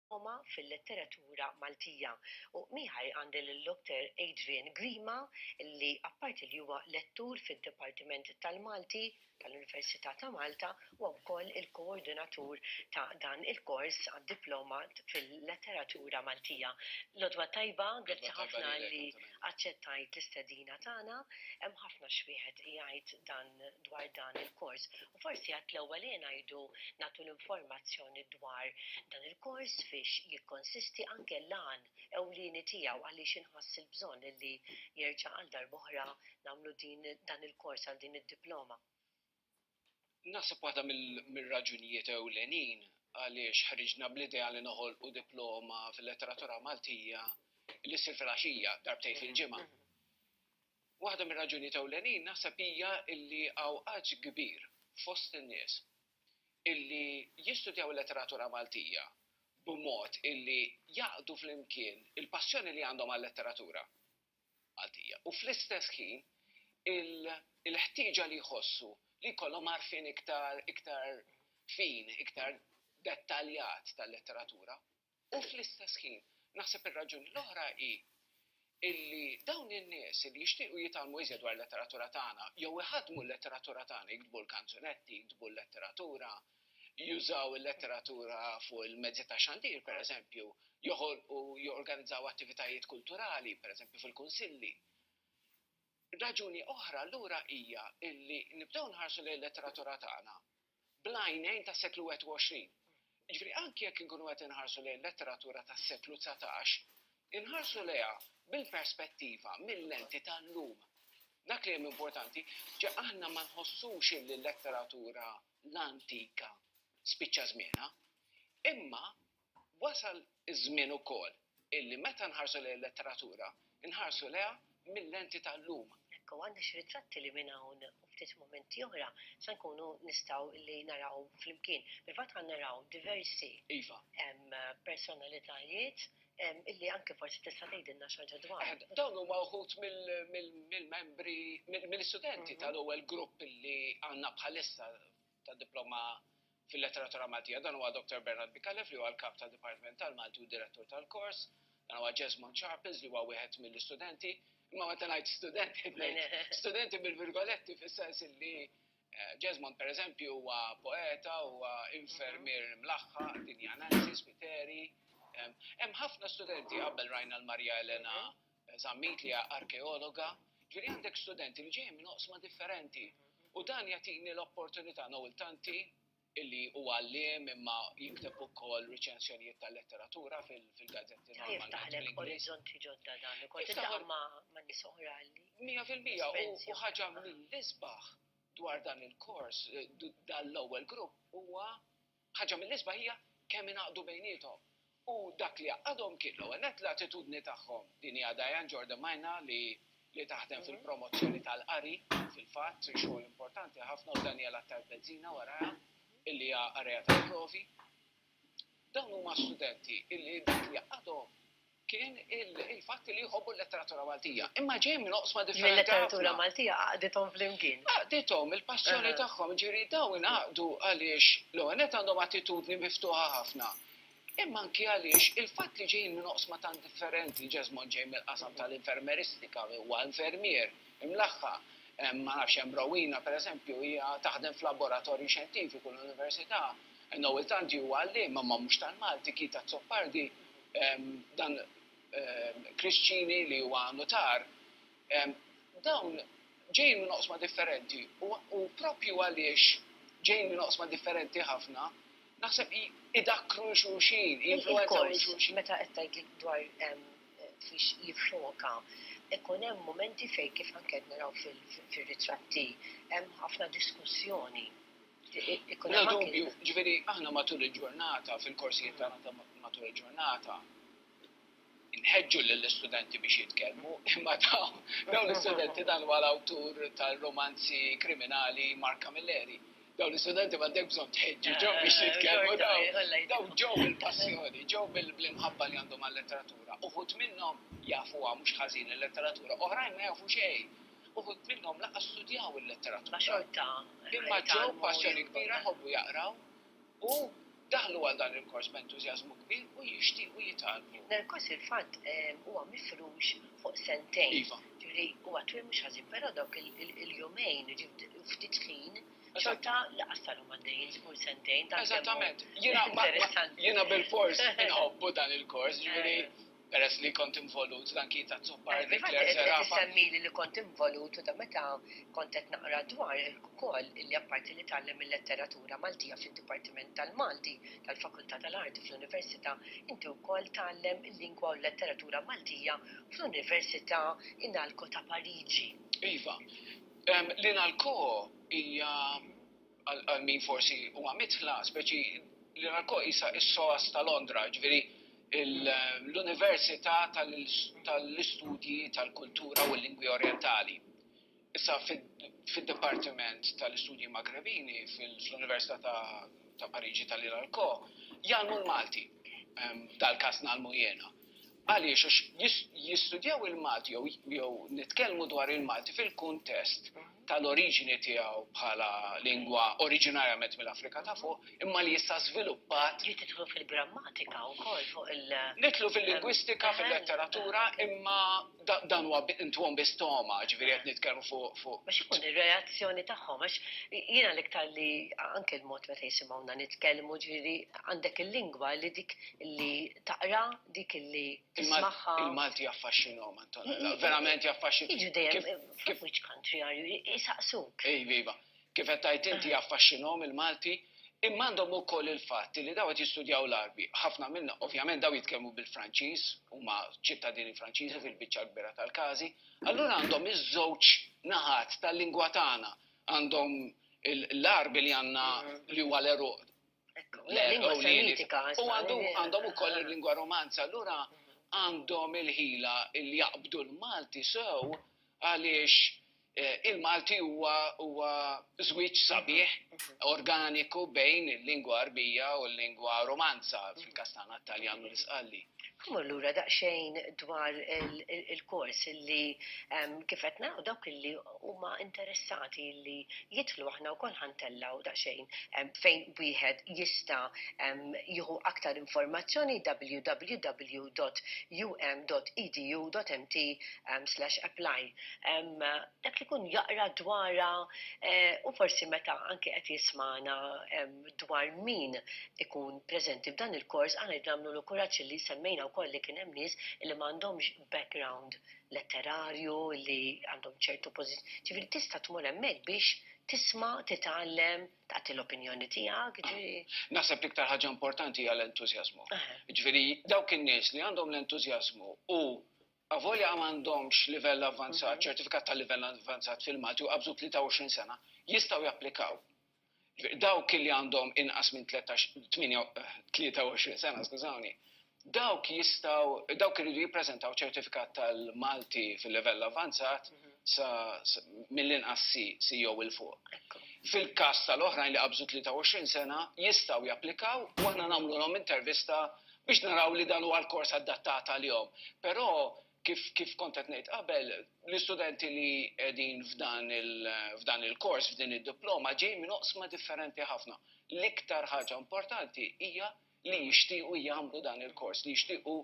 Roma fil-letteratura Maltija. U miegħi għandi lil-Dr. Adrian Grima li apparti li huwa lettur fid-Dipartiment tal-Malti tal-Università ta' Malta, huwa wkoll il-koordinatur ta' dan il-kors għad-Diploma fil-Letteratura Maltija. L-għodwa tajba, grazzi ħafna li aċċettajt l-istedina tagħna. Hemm ħafna x'wieħed jgħid dan dwar dan il-kors u forsi għad l-ewwel hi ngħidu nagħtu l-informazzjoni dwar dan il-kors fiex jikkonsisti anke l-għan ewlieni tiegħu għaliex inħass il-bżonn illi jerġa' għal darb'oħra nagħmlu din dan il-kors għal din id-diploma. Naħseb waħda mir-raġunijiet ewlenin għaliex ħriġna bl-idea li noħolqu diploma fil-letteratura Maltija li ssir fil-għaxija darbtejn fil-ġimgħa. Waħda mir-raġunijiet ewlenin naħseb hija li hawn għaġ kbir fost in-nies illi jistudjaw il-letteratura Maltija b'mod illi jgħaqqdu flimkien il-passjoni li għandhom għal-letteratura Maltija u fl-istess ħin il-ħtieġa li jħossu li jkollhom għarfien iktar fin, iktar dettaljat tal-letteratura. U fl-istess ħin, naħseb ir-raġuni l-oħra hi illi dawn in-nies illi jixtiequ jitgħallmu iżjed dwar il-letteratura tagħna, jew iħaddmu l-letteratura tagħna, jiktbu l-kanzunetti, jiktbu l-letteratura, jużaw il-letteratura fuq il-mezzi tax-xandir, pereżempju, joħolqu, jorganizzaw attivitajiet kulturali, pereżempju fil-kunsilli. Raġuni oħra allura hija illi nibdew nħarsu lejn il-letteratura tagħna bl-għajnejn tas-seklu 21. Jiġifieri anki jekk inkunu qed inħarsu lejn letteratura tas-seklu dsatax, inħarsu lejha bil-perspettiva, mil-lenti tal-lum. Dak li hemm importanti, ġa aħna ma nħossux illi l-letteratura l-antika spiċċa żmienha, imma Wasal iż-żmien ukoll illi meta nħarsu lejn il-letteratura, inħarsu lejha mil-lenti tal-lum. Hekk hu, għandna xi ritratti li minn hawn u ftit mumenti oħra se nkunu nistgħu li naraw flimkien. Fil-fatt ħa naraw diversi Iva. em, personalitajiet em, illi anke forsi tista' tgħidilna xi ħaġa dwarhom. Aħna- Dawn huma wħud mill- mill- mill-membri, mill- mill-istudenti tal-ewwel grupp li għandna bħalissa ta' diploma fil-Letteratura Maltija. Dan huwa Dr. Bernard Micallef li huwa l-Kap ta' Dipartiment tal-Malti u Direttur tal-kors. Dan huwa Jesmond Sharples li huwa wieħed mill-istudenti. Imma meta ngħid studenti, studenti bil-virgoletti fis-sens li Jesmond per eżempju huwa poeta, huwa infermier mlaħħa, dinjananzi, spiteri. Hemm ħafna studenti qabel rajna l-Marja Elena Zammit li hija arkeologa, ġifieri għandek studenti li ġejjin minn oqsma differenti. U dan jagħtini l-opportunità Noel Tanti illi huwa għalliem imma jikteb ukoll riċensjonijiet tal-letteratura fil-gazzetti normali. Jiftaħ lek orizzonti ġodda dan, kont taħdem ma' nies oħra li. Mija fil-mija u ħaġa mill-isbaħ dwar dan il-kors, dan l-ewwel grupp huwa Ħaġa mill-isbaħ hija kemm ingħaqdu bejniethom. U dak li għaqqadhom kien, l-ewwel nett, l-attitudni tagħhom. Din hija Diane Jordan Maina li li taħdem fil-promozzjoni tal-qari, fil-fatt, xogħol importanti ħafna, u Daniel Attard Bezzina warajha, illi hija qarrejja tal-provi. Dawn huma studenti illi dak li jgħaqqadhom kien il-fatt li jħobbu l-letteratura Maltija. Imma ġej minn oqsma differenti. Il-letteratura Maltija għaqdithom flimkien. Għaqdithom il-passjoni tagħhom, ġifieri dawn ingħaqdu għaliex l-ewwel nett għandhom attitudni miftuħa ħafna. Imma anki għaliex il-fatt li ġejjin minn oqsma tant differenti, Jesmond ġej mill-qasam tal-infermeristika, huwa infermier, imlaħħa, ma nafx hemm Rowena pereżempju hija taħdem f'laboratorju xjentifiku l-università, Noel Tanti huwa għalliem imma mhux tal-Malti, Keith Azzopardi dan Krisċini li huwa nutar, dawn ġejjin minn oqsma differenti u proprju għaliex ġejjin minn oqsma differenti ħafna, naħseb idakkru lil xulxin, jinfluwenzaw lil xulxin. Meta qed tgħidli dwar fiex jiffoka, ikun hemm mumenti fejn kif anke qed naraw fir-ritratti hemm ħafna diskussjoni. Bla dubju, jiġifieri aħna matul il-ġurnata, fil-korsijiet tagħna ta' matul il-ġurnata, inħeġġu lill-istudenti biex jitkellmu, imma dawn l-istudenti dan huwa l-awtur tal-rumanzi kriminali Mark Camilleri. Dawn l-istudenti m'għandek bżonn tħeġġiġhom biex jitkellmu daw ġew bil-passjoni, ġew bil-imħabba li għandhom għal-letteratura. Uħud minnhom jafuha mhux ħażin il-letteratura, oħrajn ma jafu xejn. Uħud minnhom lanqas studjaw il-letteratura, imma ġew b'passjoni kbira jħobbu jaqraw u daħlu għal dan il-kors b'entużjażmu kbir u jixtiequ jitgħallmu. Dan il-kors fil-fatt huwa mifrux fuq sentejn. Iva. Ġifieri huwa twil mhux ħażin, però dawk il-jumejn, jiġifieri ftit ħin, xorta lanqas sarhom għaddejjin żgur sentejn. Eżattament. Jiena bilfors inħobbu dan il-kors, ġifieri. Peress li kont involut dan kien tazzupar dik l-erżerapa. Qed isemmili li kont involut u da meta kont qed naqra dwar ukoll li apparti li tgħallem il-letteratura Maltija fid-Dipartiment tal-Malti tal-Fakultà tal-Arti fl-Università, inti wkoll tgħallem il-lingwa u l-letteratura Maltija fl-Università Inalco ta' Pariġi. Iva. L-Inalco hija għal min forsi huwa midħla, speċi li ralko isa is-SOAS ta' Londra, ġviri l-Università tal-Istudji tal-Kultura u l-Lingwi Orientali. Issa fid-Dipartiment tal-Istudji Magrebini fl-Università ta' Pariġi tal-Iralko jgħalmu l-Malti, dal-kas nagħlmu jiena. Għaliex? Għax jistudjaw il-Malti jew nitkellmu dwar il-Malti fil-kuntest tal-oriġini tiegħu bħala lingwa oriġinarjament mill-Afrika ta' fuq, imma li issa żviluppat. Li tidħlu fil-grammatika wkoll fuq il. Nidħlu fil-lingwistika, fil-letteratura, imma dan huwa ntwom bi stoma, ġifieri qed nitkellmu fuq. Biex ikun ir-reazzjoni tagħhom għax jiena l-iktar li anke l-mod meta jisimgħuna nitkellmu ġifieri għandek il-lingwa li dik li taqra dik li tismagħha. Il-Malti jaffaxxinhom Antonella, verament jaffaxxinhom. Jiġu dejjem, which country are you? Isaqsuk. Iva, iva. kif qed tgħid inti jaffaxxinhom il-Malti, imma għandhom ukoll il-fatt li dawn qed jistudjaw l-Għarbi. Ħafna minnhom, ovvjament dawn jitkellmu bil-Franċiż, huma ċittadini Franċiżi fil-biċċa l-kbira tal-każi, allura għandhom iż-żewġ naħat tal-lingwa tagħna, għandhom l-Għarbi li għandna li huwa l-għeruq L-lingwa Semitika. U għandhom ukoll il-lingwa Romanza, allura għandhom il-ħila li jaqbdu l-Malti sew għaliex eh, il-Malti huwa żwieġ sabiħ organiku bejn il-lingwa Arbija u l-lingwa Romanza fil-Kastana Taljan u l-Isqalli. Kumur lura daqsxejn dwar il-kors li kif qed naqgħu dawk li huma interessati li jidħlu aħna wkoll ħa ntellgħu daqsxejn fejn wieħed jista' jieħu aktar informazzjoni www.um.edu.mt/apply. Dak li jkun jaqra dwarha u forsi meta anki qed jismagħna dwar min ikun preżenti f'dan il-kors aħna rridu nagħmlulu kuraġġ li semmejna wkoll li kien hemm nies li m'għandhomx background letterarju li għandhom ċertu pożizzjoni, ġifieri tista' tmur hemmhekk biex tisma', titgħallem, tagħti l-opinjoni tiegħek. Naħseb l-iktar ħaġa importanti hija l-entużjażmu. Ġifieri dawk in-nies li għandhom l-entużjażmu u avolja ma għandhomx livell avvanzat, ċertifikat ta' livell avvanzat fil-Malti u qabżu 23 sena, jistgħu japplikaw dawk li għandhom inqas minn 23 sena, skużawni, dawk jistgħu, dawk iridu jippreżentaw ċertifikat tal-Malti fil-livell avvanzat mill-inqas C, C jew il fuq. Fil-każ tal-oħrajn li qabżu 23 sena, jistgħu japplikaw u aħna nagħmlulhom intervista biex naraw li dan huwa l-kors adattat għalihom. Però Kif kont qed ngħid qabel, l-istudenti li qegħdin f'dan il-kors, f'din id-diploma, ġejjin minn oqsma differenti ħafna. L-iktar ħaġa importanti hija li jixtiequ jagħmlu dan il-kors, li jixtiequ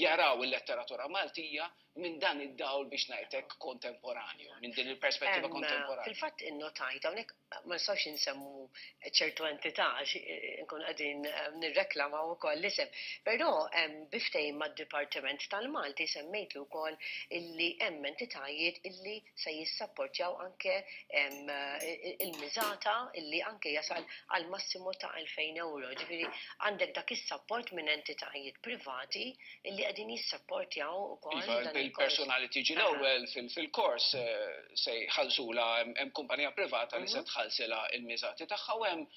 jaraw il-letteratura Maltija minn dan id-dawl biex ngħid hekk kontemporanju, minn din il-perspettiva kontemporanja. Fil-fatt innotajt hawnhekk ma nistgħux insemmu ċertu entità għax inkunu qegħdin nirreklamaw ukoll l-isem. Però bi ftehim mad-Dipartiment tal-Malti semmejtlu wkoll illi hemm entitajiet illi se jissapportjaw anke il-miżata illi anke jasal għal massimu ta' 2,000 ewro. Ġifieri għandek dak is-sapport minn entitajiet privati illi qegħdin jissapportjaw ukoll. Iva, il-persuna li tiġi l-ewwel fil-kors eh, se jħallsula hemm kumpanija privata li se mhm. tħallsila il-miżati tagħha u hemm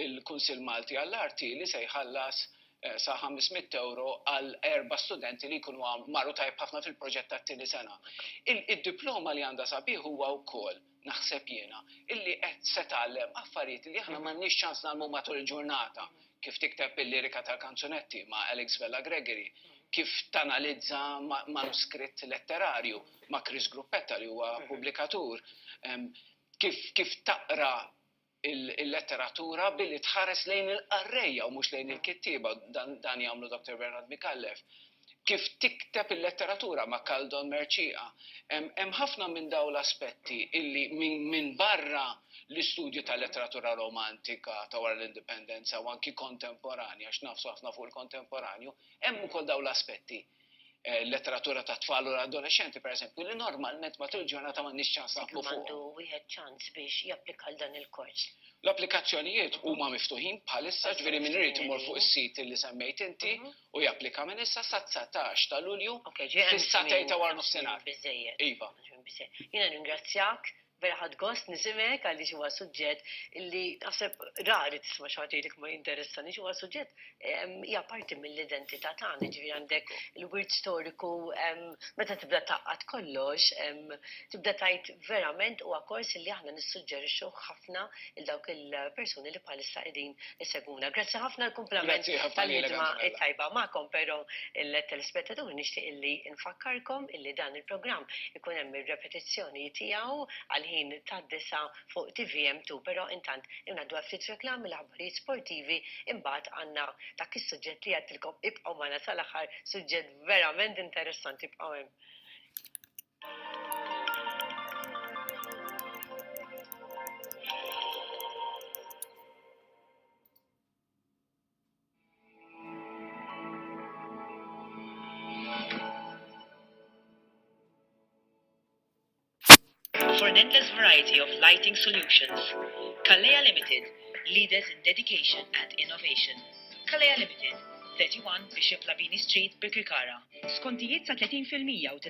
il-Kunsill Malti għall-Arti li se jħallas eh, sa 500 euro għal erba studenti li jkunu marru tajb ħafna fil-proġett tat-tieni sena. Id-diploma li għandha sabiħ huwa wkoll naħseb jiena, illi qed se tgħallem affarijiet li aħna m'għandniex ċans ngħallmu matul il-ġurnata, kif tikteb il-lirika tal-kanzunetti ma' Alex Vella Gregory, kif tanalizza manuskritt letterarju ma' Chris Gruppetta li huwa pubblikatur, kif taqra il-letteratura billi tħares lejn il-qarrejja u mhux lejn il-kittieba, dan jagħmlu Dr. Bernard Micallef. Kif tikteb il-letteratura ma' Kaldon Mercieqa. Hemm ħafna minn dawn l-aspetti illi minn barra l-istudju tal-letteratura romantika ta' wara l-Indipendenza u anki kontemporanja, għax nagħfsu ħafna fuq il-kontemporanju, hemm ukoll dawn l-aspetti. eh, letteratura ta' tfal u adolescenti, per eżempju, li normalment matul ġurnata ma' nix ċans naqblu fuq. Għandu wieħed ċans biex japplika għal dan il-kors. L-applikazzjonijiet huma miftuħin bħalissa ġveri minn rrit imur fuq is-sit li semmejt inti mhm. u japplika minn issa sa 19 ta' Lulju fis-satej ta' war nofsinhar. Iva. Jiena ringrazzjak Vera ħadt gost nisimgħek għaliex huwa suġġett li naħseb rari tisma' xi ħadd jgħidlek ma jinteressanix, huwa suġġett hija parti mill-identità tagħna, jiġifieri għandek il-wirt storiku meta tibda tgħaqqad kollox tibda tgħid verament huwa kors li aħna nissuġġerixxuh ħafna. lil dawk il-persuni li bħalissa qegħdin isegwuna. Grazzi ħafna l-kumplament tal-ħidma tajba magħkom, però il-telespettaturi nixtieq illi nfakkarkom illi dan il-programm ikun hemm ir-repetizzjoni tiegħu għall-ħin tad-disa' fuq TVM2, però intant ngħaddu għal ftit reklami, l-aħbarijiet sportivi, imbagħad għandna dak is-suġġett li għedtilkom ibqgħu magħna sal-aħħar, suġġett verament interessanti, ibqgħu hemm. For an endless variety of lighting solutions, Kalea Limited, leaders in dedication and innovation. Kalea Limited, 31 Bishop Labini Street, Birkirkara. Skontijiet sa 30% u tingħata